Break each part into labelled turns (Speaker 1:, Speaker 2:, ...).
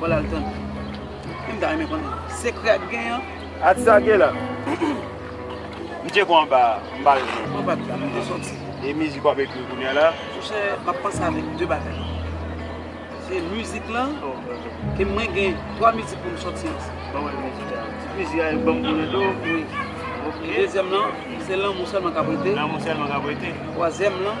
Speaker 1: Bon lal tande. Em ta renmen konnen. Sekrè ak gen an. Ati sa gen la.
Speaker 2: M tcheko anba a. M pa jwenn anko. Mwen pa tande. M
Speaker 1: te soti. E mizik
Speaker 2: wap ekri kounya la? Mon chè, map panse
Speaker 1: avèk 2 bagay. Se mizik lan. E mwen gen 3 mizik pou m soti ansi. Ban mwen
Speaker 2: mizik la. Ti pwezi a e banm konnen tou. Wi.
Speaker 1: Ok. Dezyèm lan, se lanmou sèlman kap rete. Lanmou sèlman kap rete.
Speaker 2: Twazyèm lan.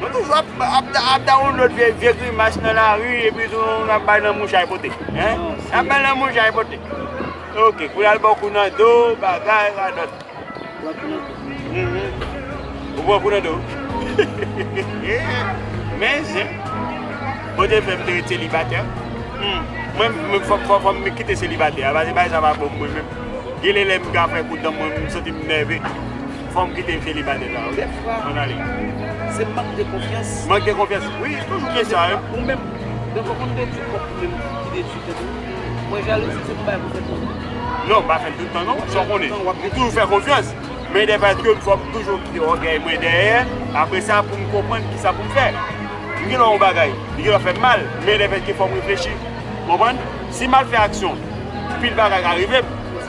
Speaker 2: Nou toujou ap download vye grimas nan lari epi tou nou ap bay nan mouchay pote. Nou ap bay nan mouchay pote. Ok, pou yal bò kou nan do, bagay, radòt. Bò kou nan do. Ou bò kou nan do. Men zi. Bon Dye fè m te ret selibatè. Mwen mwen fòk fòk fòk mwen kite selibatè. Abaze bay sa va bò mwen men. Gile lè m ka fè kou dan mwen m santi m nève. Fom kite celibatè sa ok mwen ale. Se mank
Speaker 1: de konfyans. Mank de konfyans wi
Speaker 2: toujou gen sa wi. Ou menm Dèfwa ou konn detwi
Speaker 1: pwòp ou menm ki detwi tèt ou. Mwen jalouzi se pou bay pou tèt mwen. Non m pa fèl tout tan non
Speaker 2: sa w konnen m toujou fè konfyans men dèfwa èske m fòk toujou kite ògèy mwen dèyè apresa pou m konprann kisa pou m fè m gen lè yon bagay li gen lè fè m mal men lè fèske fò m reflechi konprann si m mal fè aksyon pil bagay ka rive m.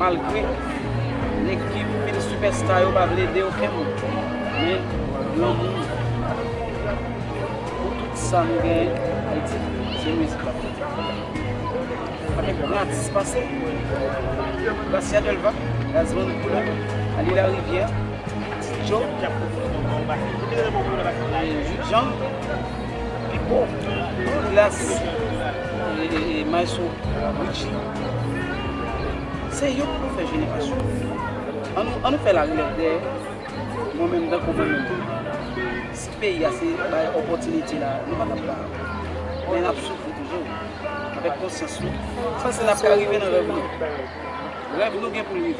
Speaker 1: malgre nèg ki vin sipèsta yo pa vle ede okenn moun men lanmou pou tout sa nou genyen Ayiti se mizik lap fè sa pa gen gran atis pase Gracia Delva Gazman Couleur Aly Larivière Ti Djo Jude Jean Pipo Douglas Maestro Richie Se yo pou nou fè jenerasyon an nou fè la relèv dè mwen menm tankou mwen menm si peyi a se bay opotinite la nou patap la men nap soufri toujou avèk konsyans nou sa se nap ka rive nan rèv nou rèv nou gen pou li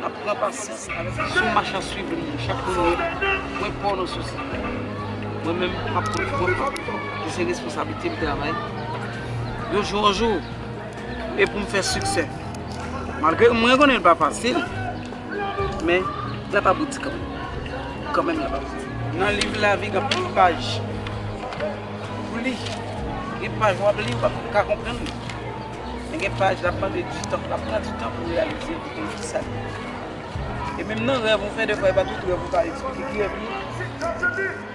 Speaker 1: nap pran pasyans sou mach a swiv li chak mouye mwen pò nan sou sa mwen menm pap pran pran pran se responsabilite m travay yon jou an jou e pou m fè siksè. Malgre mwen konnen l pa fasil, men l ap abouti kanmenm. Kanmenm l ap abouti. Nan liv lavi gen anpil paj pou w li. Gen paj w ap li, w pa ka konprann li. Men gen paj l ap mande di tan, l ap pran di tan pou l reyalize l, pou w konn ki sa l ye. E menm nan rèv ou fè, defwa e pa tout rèv ou ka esplike ki rèv li ye.